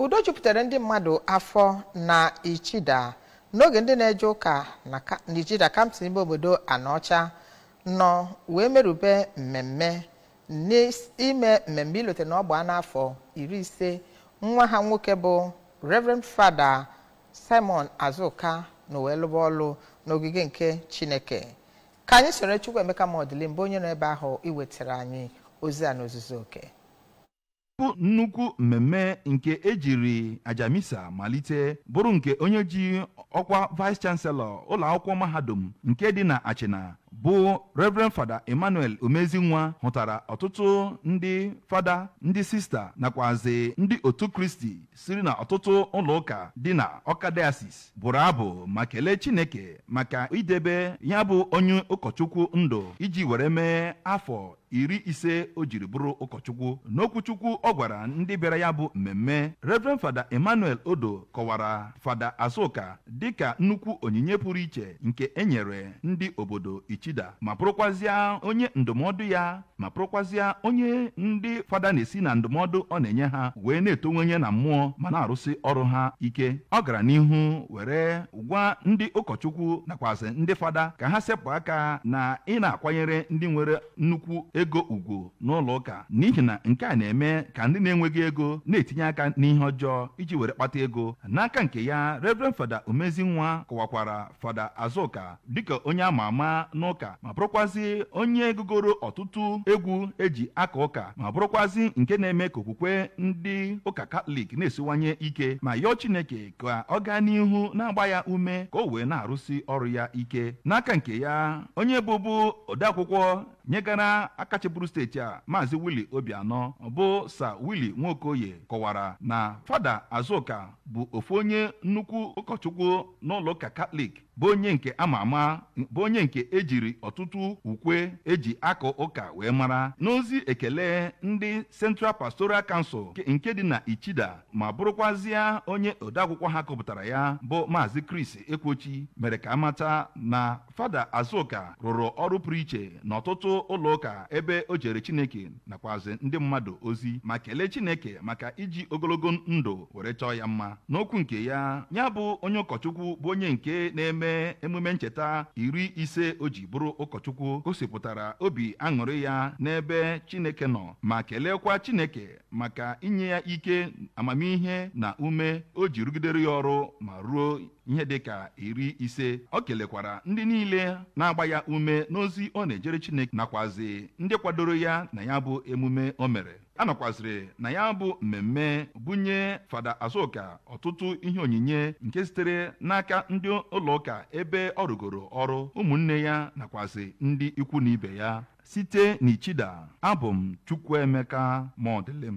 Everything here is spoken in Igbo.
udo jupụtara ndị mmadụ afọ na ichida n'oge ndị na-eje ụka na ichida kansụl ime obodo anaọcha nọ wee merube mmemme n'ime mmemme ilote na ọ gbaana afọ iri ise nwa ha nwoke bụ reverend fada simon azuka nọ wee lụba ọlụ n'ogige nke chineke ka anyị soro chukwuemeka modilim bụ onye nọ ebe ahụ iwetara anyị ozi a n'ozuzu oke bụ nnukwu mmemme nke ejiri aja misa malite bụrụ nke onye ji ọkwa vice chancellor ụlọ akwụkwọ mahadum nke dị na achịna bụ reverend fada emmanuel umezinwa hụtara ọtụtụ ndị fada ndị sista nakwazi ndị otu kristi siri na ọtụtụ ụlọ ụka dị na ọka diocese bụrụ abụ ma kelee chineke maka idebe ya bụ onye ụkọchukwu ndụ iji were mee afọ iri ise o jiri bụrụ ụkọchukwu n'okwuchukwu ọ gwara ndị bịara ya bụ mmemme Reverend Fada Emmanuel Odo kọwara Fada Azuka dịka nnukwu onyinye pụrụ iche nke e nyere ndị obodo Ichida ma bụrụkwazịa onye ndụmọdụ ya ma bụrụkwazịa onye ndị fada na-esi na ndụmọdụ ọ na-enye ha wee na-etonwenye na mmụọ ma na-arụsị ọrụ ha ike ọ gara n'ihu were gwa ndị ụkọchukwu nakwazi ndị fada ka ha sepụ aka na ị na-akwanyere ndị nwere nnukwu ego ugwu n'ụlọ ụka n'ihi na nke a na-eme ka ndị na-enweghị ego na-etinye aka n'ihe ọjọọ iji were kpata ego n'aka nke ya Reverend Fada Umezinwa kọwakwara Fada Azụka dịka onye ama ama n'ụka ma bụrụkwazi onye gụgoro ọtụtụ egwu eji aka ụka ma bụrụkwazi nke na-eme ka okwukwe ndị ụka Katọlik na-esiwanye ike ma yọọ Chineke ka ọ gaa n'ihu na-agba ya ume ka o wee na-arụsi ọrụ ya ike n'aka nke ya onye bụbu odeakwụkwọ nyegara aka chịburu steeti a maazị Willie Obianọ bụ sa Willie Nwokoye kọwara na fada Azuka bụ ofu onye nnukwu ụkọchukwu n'ụlọụka Katọlik bụ onye nke ama ama bụ onye nke ejiri ọtụtụ ukwe eji aka ụka wee mara n'ozi ekele ndị Central Pastoral Council nke dị na Ichida ma bụrụkwazịa onye odeakwụkwọ ha gụpụtara ya bụ Maazị Chris Ekwochi mere ka a mata na Fada Azuka rụrụ ọrụ pụrụ iche n'ọtụtụ ụlọ ụka ebe o jere Chineke nakwazị ndị mmadụ ozi ma kelee Chineke maka iji ogologo ndụ were chọọ ya mma n'okwu nke ya ya bụ onye ụkọchukwu bụ onye nke na-eme emume ncheta iri ise o ji bụrụ ụkọchukwu gosipụtara obi aṅụrị ya n'ebe Chineke nọ ma keleekwa Chineke maka inye ya ike amamihe na ume o ji rụgidere ya ọrụ ma ruo ihe dị ka iri ise o kelekwara ndị niile na-agba ya ume n'ozi ọ na-ejere Chineke nakwazi ndị kwadoro ya na ya bụ emume o mere a nọkwaziri na ya bụ mmemme bunye fada Azuka ọtụtụ ihe onyinye nke sitere n'aka ndị ụlọụka ebe ọ rụgoro ọrụ ụmụnne ya nakwazi ndị ikwu na ibe ya site n'Ichida abụ m Chukwuemeka Modilim